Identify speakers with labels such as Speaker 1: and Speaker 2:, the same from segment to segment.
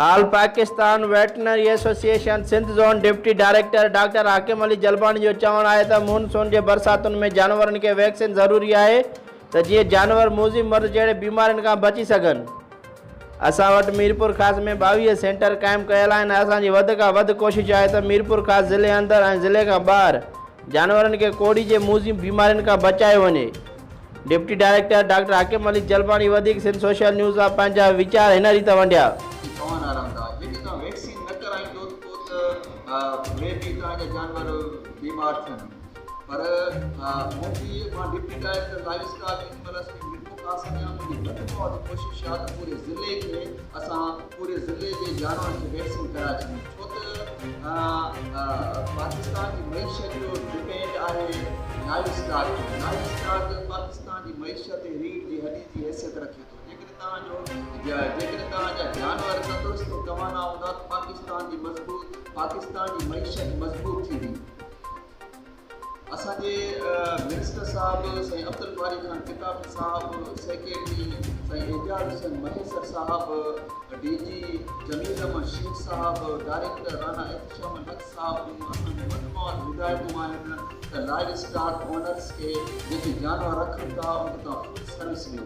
Speaker 1: آل Pakistan veterinary association Sindh zone deputy director doctor Hakim Ali Jalbani جو چوڻ آهي ته مون سون جي برساتن ۾ جانورن کي ويڪسين ضروري آهي ته جيئن جانور موذي مرض جهڙي بيمارين کان بچي سگهن اسان وٽ ميرپورخاص ۾ ٻاويهه سينٽر قائم ڪيل آهن اسان جي وڌ کان وڌ ڪوشش آهي ته ميرپورخاص ضلعي اندر ۽ ضلعي کان ٻاهر جانورن کي ڪوڙهي جي موذي بيمارين کان بچايو وڃي deputy director doctor Hakim Ali Jalbani وڌيڪ سنڌ سوشل نيوز سان پنهنجا ويچار هن ريت ونڊيا. ڪي پوائن آرام داء جيڪي توهان ويڪسين نه ڪرائيندو ته مي بي توهان جا جانور
Speaker 2: بيمار ٿين. پر منهنجي مان ڊپٽي ڊائريڪٽر لائيو اسٽاڪ ان مرض کي مٽو ڪا سگهيان منهنجي گهٽ ۾ گهٽ ڪوشش اها ته پوري ضلعي کي اسان پوري ضلعي جي جانورن کي ويڪسين ڪرائي ڇڏيون ڇو ته پاڪستان جي معيشت جو ڊپينڊ آهي لائيو اسٽاڪ تي لائيو اسٽاڪ پاڪستان جي معيشت تي ريڙهه جي هڏي جي حيثيت رکي ٿو جيڪڏهن توهان جو جيڪڏهن توهان جا جانور تندرست ۽ توانا هوندا ته پاڪستان جي مضبوط پاڪستان جي معيشت مضبوط ٿيندي اسان جي منسٽر صاحب سائين عبدالباري خان ڪتابي صاحب، سيڪريٽري سائين اعجاز حسين مهيسر صاحب، ڊي جي جميل احمد شيخ صاحب، ڊائريڪٽر رانا احتشام الحق صاحب جون اسان کي مجموعي هدايتون آهن ته لائيو اسٽاڪ اونرز کي جيڪي جانور رکن ٿا ان تان فوڊ سروس ڏيو.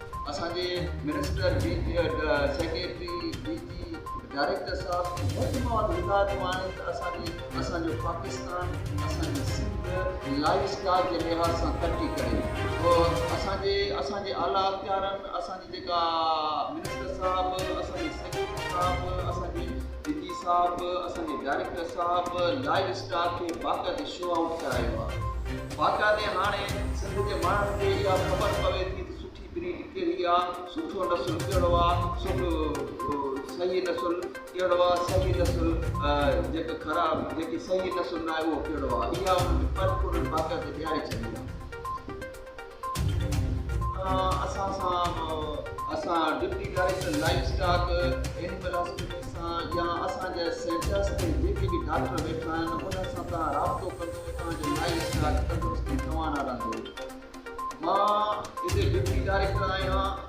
Speaker 2: اسان جي minister, D G, secretary, D G, director صاحب ۽ هيلٿ مواد هدايتون آهن ته اسان جي اسان جو پاڪستان اسان جي سنڌ لائيف اسٽائيل جي لحاظ سان ترقي ڪري ته اسان جي اسان جي اعليٰ اختيارن اسان جي جيڪا منسٽر صاحب اسان جي سيڪريٽري صاحب اسان جي صديقي صاحب اسان جي ڊائريڪٽر صاحب لائيو اسٽار کي باقاعدي شو آئوٽ ڪرايو آ باقاعدي هاڻي سنڌ جي ماڻهن کي اها خبر پوي ٿي ته سٺي بريڊ ڪهڙي آ سٺو نسل ڪهڙو آ سٺو صحيح نسل ڪهڙو آ صحيح نسل جيڪا خراب جيڪي صحيح نسل ناهي اهو ڪهڙو آ اها انهن کي پرپورن باقاعدي ڏياري ڇڏي آ. اسان سان به اسان deputy director livestock animal hospital سان يا اسان جي سينٽرس تي جيڪي به ڊاڪٽر ويٺا آهن انهن سان توهان رابطو ڪندو توهان جو لائيو اسٽاڪ تندرست ۽ توانا رهندو مان هتي ڊپٽي ڊائريڪٽر آهيان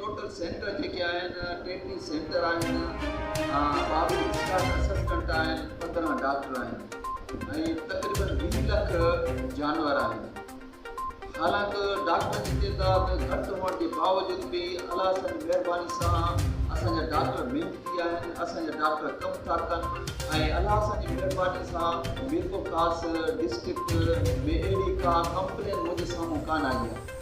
Speaker 2: ٽوٽل سينٽر جيڪي آهن ٽيٽي سينٽر آهن ٻاويهه ڊسٽارٽ اسسٽنٽ آهن پندرهن ڊاڪٽر آهن ۽ تقريبن ويهه لک جانور آهن حالانڪ ڊاڪٽرن جي تعداد گهٽ هئڻ جي باوجود به الله سان مهرباني سان اسان جا ڊاڪٽر محنتي آهن اسان جا ڊاڪٽر ڪم ٿا ڪن ۽ الله سان جي مهرباني سان ميرپور خاص ڊسٽرڪٽ ۾ اهڙي ڪا ڪمپلين منهنجي سامهون ڪانه آئي آهي